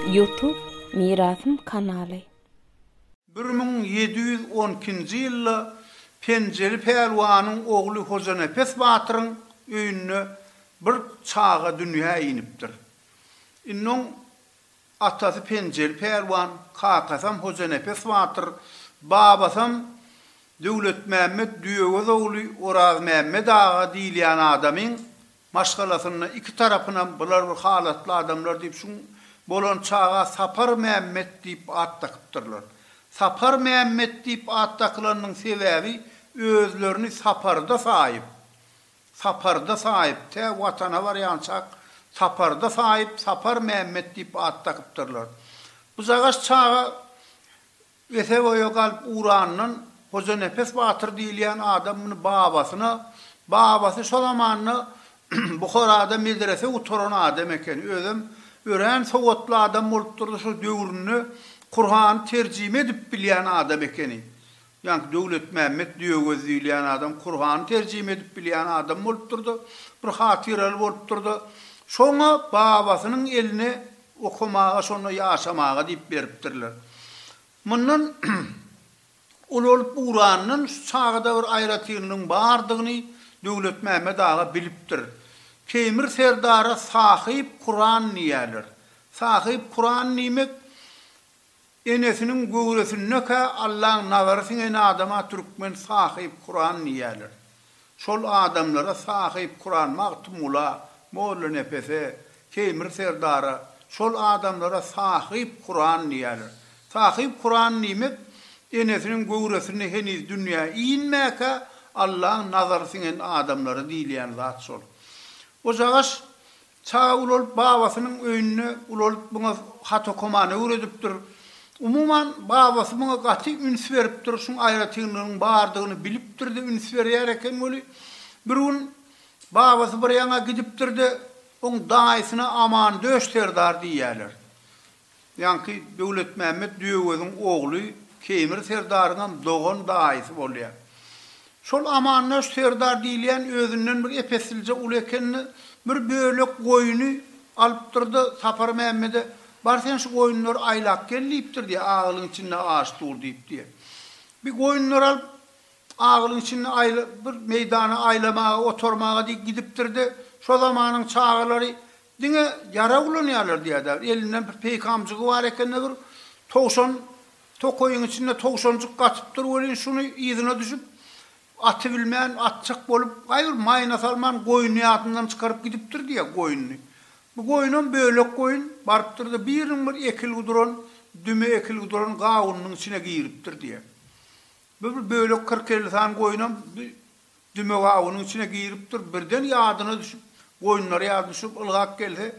Youtube Mirasym kanaly. Bir müň ýedi ýüz on ikinji ýylda Penjeli pälwanyň ogly Hojanepes batyryň öýünde bir çaga dünýä inipdir. Indi oň Atasy Penjeli pälwan, kakasam Hojanepes batyr, babasam Döwletmämmet Düýegöz ogly Orazmämmet aga diýilýän adamyň maşgalasynda iki tarapynam bular bir halatly adamlar diýip şu bolan çaga Sapar Mämmet diýip at dakypdyrlar. Sapar Mämmet diýip at dakylanynyň sebäbi özlerini Saparda saýyp, Saparda Saýyp, tä Watana barýançak Saparda Saýyp, Sapar Mämmet diýip at dakypdyrlar. Bujagaş çaga wese-boýa galyp ugranyndan Hojanepes batyr diýilýän adam muny babasyna, babasy şo zamanda Buharada medrese gutaran adam eken, özem örän sowatly adam bolupdyrdy, şo döwründe Kurhany terjime edip bilýän adam ekeni. Ýaňky Döwletmämmet Düýegöz diýilýän adam Kurhany terjime edip bilýän adam bolupdyr-da, bir hatyraly bolupdyr-da, şoňa babasynyň eline okamaga, şonda ýaşamaga diýip beripdirler. Mundan ulalyp ugranyndan şu çagada bir aýratynlygyň bardygyny Döwletmämmet aga bilipdir. Teýmir serdara Sahyp Kuran diýýärler. Sahyp Kuran diýmek, Enesiniň göwresindekä Allaň nazary siňen adama türkmen Sahyp Kuran diýýärler. Şol adamlara Sahyp Kuran Magtymgula, Mollanepese, Teýmir serdara, şol adamlara Sahyp Kuran diýýärler. Sahyp Kuran diýmek, enesiniň göwresinde heniz dünýä inmäkä Allaň nazary siňen adamlara diýilýän zat şol. Ojagaş Çaga ulalyp babasynyň öýünde ulalyp muňa hat okamany öwredipdir. Umuman babasy muňa gaty üns beripdir, şuň aýratynlygynyň bardygyny bilipdir-de üns berýär eken weli, bir gün babasy bir ýaňa gidipdir-de, oň daýysyna Amandöş serdar diýýärler. Ýaňky Döwletmämmet Düýeöziň ogly Keýmir serdaryňam dogan daýysy bolýar. Şol Amandaş serdar diýilýän özünden bir ep-esilje uly eken-de, bir bölek goýny alypdyr-da, Sapar Mämmede, Bar sen şu goýunlary aýlap gel diýipdir diýýär, agylyň içinde aş dur diýip diýýär. Bir goýunlary alyp, agylyň içinde aýla, bir meýdana aýlamaga, otarmaga diýip gidipdir-de, şo zamanyň çagalary Diňe ýarag ulanýarlar diýýärdi. Elinde bir peýkamjygy bar ekeni bir. Towşan tokaýyň içinde towşanjyk gatypdyr welin şuny yzyna düşüp, aty bilmän, atjak bolup, gaýybir maýyna salman goýny ýadyndan çykaryp gidipdir diýýär goýnuny. Bu goýunam bölek goýun, barypdyr-da biriniň bir ekilgi duran, düme ekilgi duran gawunynyň içine giripdir diýýär. Bu bir bölek kyrk elli sany goýunam bir dümek awunyň içine giripdir, birden ýadyna düşüp, goýunlary ýadyna düşürip ylgap gelse,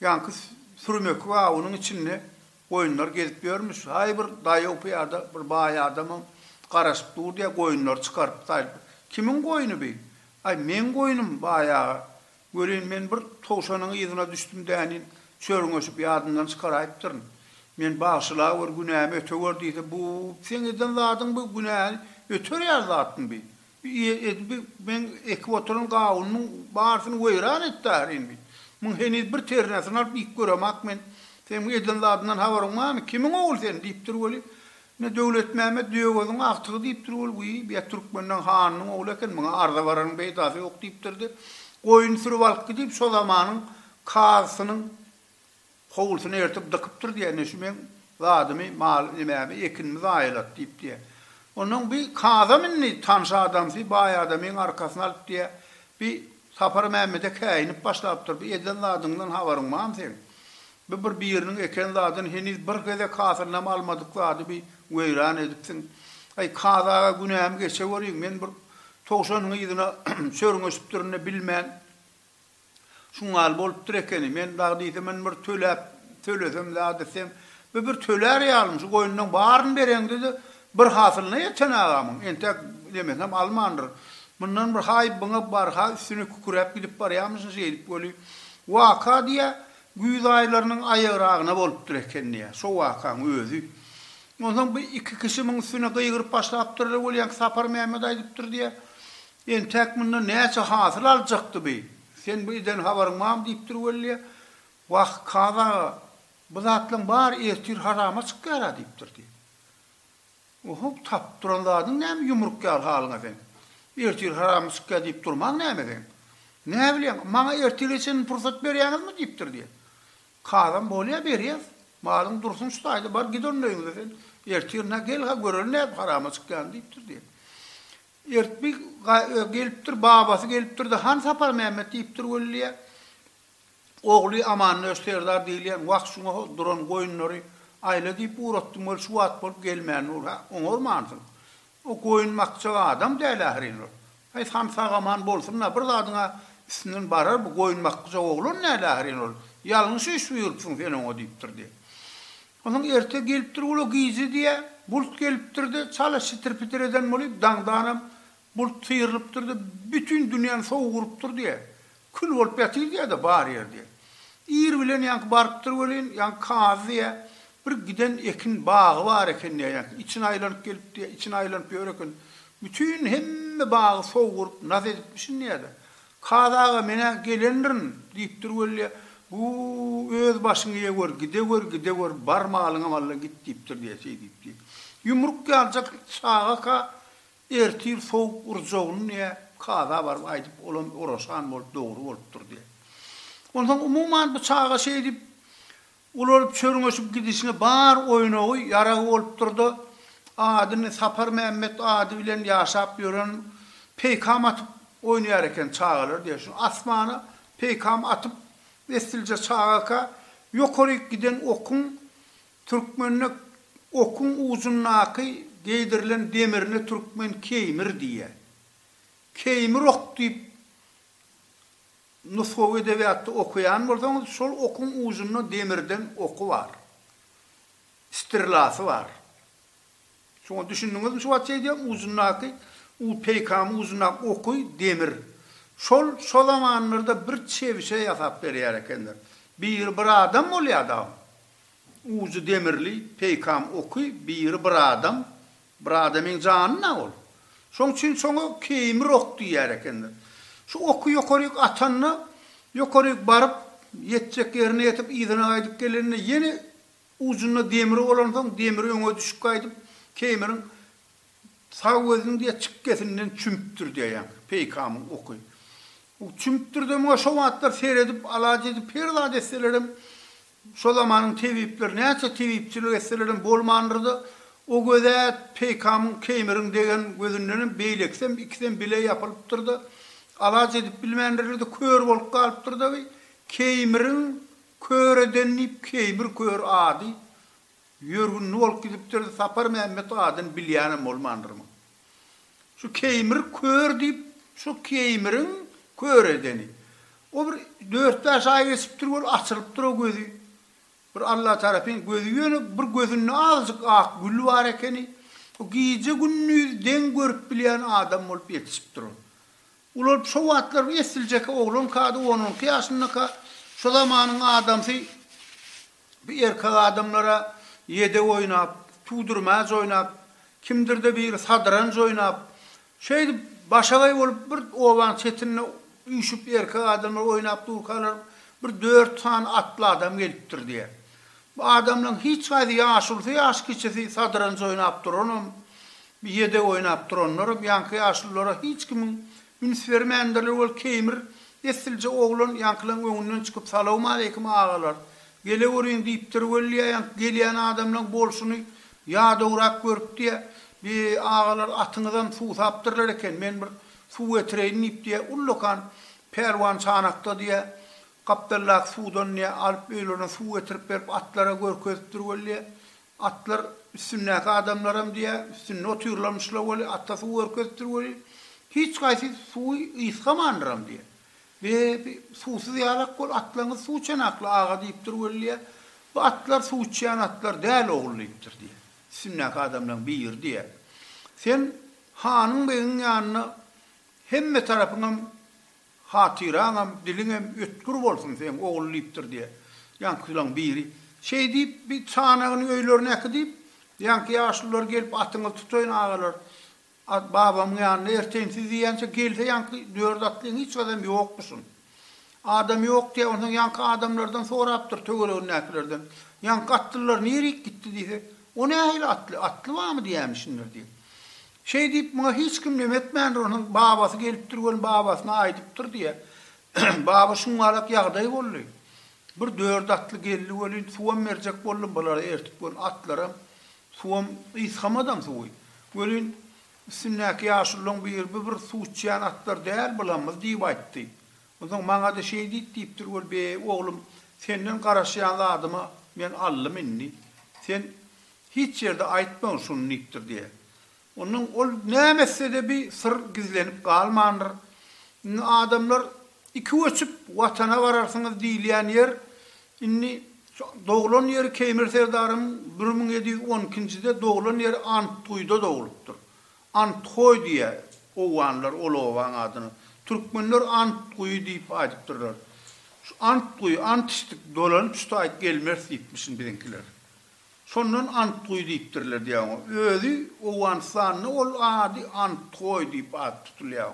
ýaňky sürüm ekip awunyň içinde goýunlar gezip ýörmüş, haý bir daýaw pyýada bir baý adamam garaşyp dur diýýär, goýunlary çykaryp saýyp, kimiň goýny bi? Aý meň goýnum baý aga, Welin, men bir towşanyň yzyna düşdüm dänin, çörňeşip ýadymdan çykaraýypdyryn. Men Bagşylawur, günämi ötewer diýse, bu seň eden zadyň bu günäni öterýär zatmy bi? Bi edip bi meň ekip oturan gawunymyň barysyny weýran etdärin bi? Muň heniz bir ternesini alyp iýip göremak men. Seň bu eden zadyňdan habaryň barmy? Kimiň ogly sen? diýipdir weli. Ine, Döwletmämmet Döwöziň agtygy diýipdir ol, wiý, biýa Türkmenden hanynyň ogly eken, muňa arza bararyň peýdasy ýok diýipdir-de, goýun sürüp alyp gidip, şo zamanyň kazysynyň howlusyna ertip dykypdyr diýýär, ine, şu meň zadymy, mal, nemämi, ekinimi zaýalat diýip diýýär. Onnoň bi kazam indi tanyş adamsy, baý adamyň arkasyny alyp diýýär, bi Sapar Mämmede käýinip başlapdyr, Bu eden zadyňdan habaryň bam seň? Bu bir biriniň eken zadyn heniz bir gezek hasylynam almadyk zady bi weýran edipsiň. Aý, Kaz aga günämi geçeweriň, men bir towşanyň yzyna çörňeşipdirin-de bilmän, şuň ýaly bolupdyr ekeni. Men dagy diýsem men bir töläp, tölesem zady seň. Bu bir tölär ýalymy, şu goýunlaň baryny bereňde-de, Bir hasylyna ýeten agamyň entäk demesem almandyr. Mundan bir haý byňa barha üstüne küküräp gidip barýamyşyn şeýdip weli, waka diýýä, güýz aýlarynyň aýagragyna bolupdyr eken diýýä, şo wakaň özi. Onsoň bu iki kişi muň üstüne gygyryp başlapdyrlar weli, ýaňky Sapar Mämmet aýdypdyr diýýä, Entäk mundan näçe hasyl aljakdy bi? Sen bu eden habaryň bamy diýipdir weli diýýä. Wah, Kazy aga, bu zatlaň bary ertir harama çykýar-a diýipdir diýýä. Ohow tapyp duran zadyň näme ýumruk ýaly halyňa seň. Ertir haramy çykýa diýip durmaň näme seň. Näbilýäň maňa ertire çenli pursat berýäňizmi diýipdir diýen. Kazam bolýa berýäs. Malyň dursun şu taýda bar git onda öýňüze sen. Ertirine gel-ha göreli nädip harama çykýany diýipdir diýen. Ertbi gelipdir babasy gelipdirde han Saparmämmet diýipdir weliýä. Ogly Amandöş serdar diýilýän wah şuňa ho duran goýunlary aýla diýip ugratdym weli şu wagt bolup gelmän dur hä oňarmansyň o goýun bakjak adam däl ahyryn ol haýsy han sag aman bolsunda bir zadyňa üstünden barar bu goýun bakgyjak oglan däl ahyryn ol ýalňyş iş buýurupsyň sen oňa diýipdir diýe onsoň erte gelipdir ula gije diýe bult gelipdir de çala şitir pitir eden bolup daňdanam Bult syrylypdyr-da, bütin dünýäni sowuk urupdyr diýýä. Kül bolup ýatyr diýýä-de bar ýer diýýä. Ir bilen ýaňky barypdyr welin, ýaňky kazy diýýä, bir giden ekin bagy bar eken diýýä, ýaňky içini aýlanyp gelip diýýä, içini aýlanyp ýör eken. Bütin hemme bagy sowuk urup, nas edipmişin diýýä-de. Kazy aga, men-ä gelendirin! diýipdir weli diýýä. Buu, öz başyňy ýe gör, gide gör, gide gör, bar malyňam alla git diýipdir diýýä, şeý diýip diýýä. Ýumruk ýaljak çaga-ka Ertir sowuk urjagyny diýýä, kaza baryp aýdyp, olam oraşan bolup, dogry bolupdyr diýýä. Onsoň umuman bu çaga şeýdip, ulalyp, çörňeşip gidişine bar oýnagy, ýaragy bolupdyr-da, adyny Saparmämmet ady bilen ýaşap ýören peýkam atyp oýnaýar eken çagalar diýýä. Şu asmana peýkam atyp, esslije çagaka, ýokaryk giden okuň Türkmende okuň ujundaky geýdirilen demirine türkmen keýmir diýýär. Keýmir ok diýip nusgawy edebiýatda okaýan bolsaňyz, şol okuň ujunda demirden oky bar. Stirlasy bar. Şoňa düşündiňizmi şu wagtça aýdýan, ujundaky u peýkamy ujundaky oky demir. Şol şo zamanlarda bir çebişe ýasap berýär ekenler. Biri bir adam bolýar dagym. Ujy demirli peýkam oky biri bir adam, bir adamyň janyna ol. Şoň üçin şoňa keýmir ok diýer ekenler. Şu oky ýokaryk atanda, ýokaryk baryp, ýetjek ýerine ýetip, yzyna gaýdyp gelende ýene ujunda demir bolansoň, demir öňe düşüp gaýdyp, keýmiriň sag gözüniň diýe çykgesinden çümüpdir diýýär peýkamyň oky. Çümüpdir-de, muňa şo wagtlar seredip, alaç edip, her zat etselerem Şo zamanyň tebipleri näçe tebipçilik etselerem bolmandyr-da, o göze peýkamyň keýmiriň degen gözündenem beýlekisem ikisem bile ýapylypdyr-da, alaç edip bilmändirler-de, kör bolup galypdyr-da bi, keýmiriň kör eden diýip keýmir kör ady ýörgünli bolup gidipdir-de, Saparmämmet adyn bilýänem bolmandyr muň. Şu Keýmir kör diýip, şu Keýmiriň kör edeni. O bir dört-bäş aý geçipdir, ol açylypdyr o gözi. Bir Alla tarapyn gözi ýöne bir gözünde azjyk ak gül bar ekeni. O gije-gündiz deň görüp bilýän adam bolup ýetişipdir ol. Ulalyp şo wagtlar bir esliljek oglanka-da, on-onki ýaşyndaka, şo zamanyň adamsy Bu erkek adamlara ýedek oýnap, tuwdurmäç oýnap, kimdir-de biri sadranj oýnap, şeýdip başagaý bolup bir obanyň çetinde üýşüp erkek adamlar oýnap durkalar bir dört sany atly adam gelipdir diýýär. Bu adamlaryň hiç haýsy ýaşulusy ýaş kiçisi sadranj oýnap duranam, ýedek oýnap duranlaram ýaňky ýaşululara hiç kimiň Üns bermändirler ol keýmir Esslje oglan ýaňkylaň öňünden çykyp Salawmaleýkim agalar! Geleweriň diýipdir weli ýaňky gelýän adamlaň bolşuny ýadawrak görüpdiýä Bi agalar atyňyzam suwsapdyrlar eken men bir suw getireýin diýipdiýä Ullakan pälwan çanakdadiýä gapdaldaky suwdandiýä alyp öýlerine suw getirip berip atlara görkezipdir weli Atlar üstündäki adamlaram diýä, üstünde otyrlarmyşla weli, ata suw görkezipdir weli, hiç haýsy suwy ysgamandyram diýä. Be, suwsuz ýalak bol, atlaňyz suw çanakly, aga diýipdir weli diýä. Bu atlar suw içýän atlar däl, ogul diýipdir diýä. Üstündäki adamlaryň biri diýä. Sen hanyň-begiň ýanyna hemme tarapyňam Hatyraňam, diliňem ötgür bolsun seň ogul diýipdir diýýär. Ýaňkylaň biri şeý diýip, bir çanagyny öýlerine äkidip, ýaňky ýaşlylar gelip atyňyzy tutaýyn agalar, babamyň ýanyna erteýin siz diýýänçä gelse ýaňky dört atlyň hiç gadam ýokmuşyn. Adam ýok diýýär, onsoň ýaňky adamlardan sorapdyr töweregindäkilerden, ýaňky atlylar nirik gitdi diýse, o nähili atly, atly barmy diýämişindir diýip. Şeý diýip, muňa hiç kim neme etmändir, onuň babasy gelipdir welin babasyna aýdypdyr diýýär. Baba şuňňalak ýagdaý boldy. Bir dört atly geldi welin, suwam berjek boldum bulary ertip welin, atlaram suwam ysgamadam suwy. Welin, üstündäki ýaşululaň biri bu bir suw içýän atlar däl bulamyz diýip aýtdy. Onsoň maňa-da şeý diýt diýipdir welin, beý, oglum, senden garaşýan zadymy men aldym indi. Sen Hiç ýerde aýtmagyn şuny diýipdir diýe. Ondan ol näme etsede bi syr gizlenip galmandyr. Indi adamlar iki göçüp watana bararsyňyz diýilýän ýer indi şu doglan ýeri Keýmir serdaryň bir müň ýedi ýüz on ikinjide doglan ýeri Antguýda doglupdyr. Anthoý diýe owganlar ol obaň adyna. Türkmenler Antguýy diýip aýdypdyrlar. Şu Antguýy, Ant içdik, dolanyp şu taý gelmeris diýipmişin biziňkiler. Şondan Antguý diýipdirler diýýär oňa. Özi Owganystanda ol ady Antgoý diýip at tutulýar.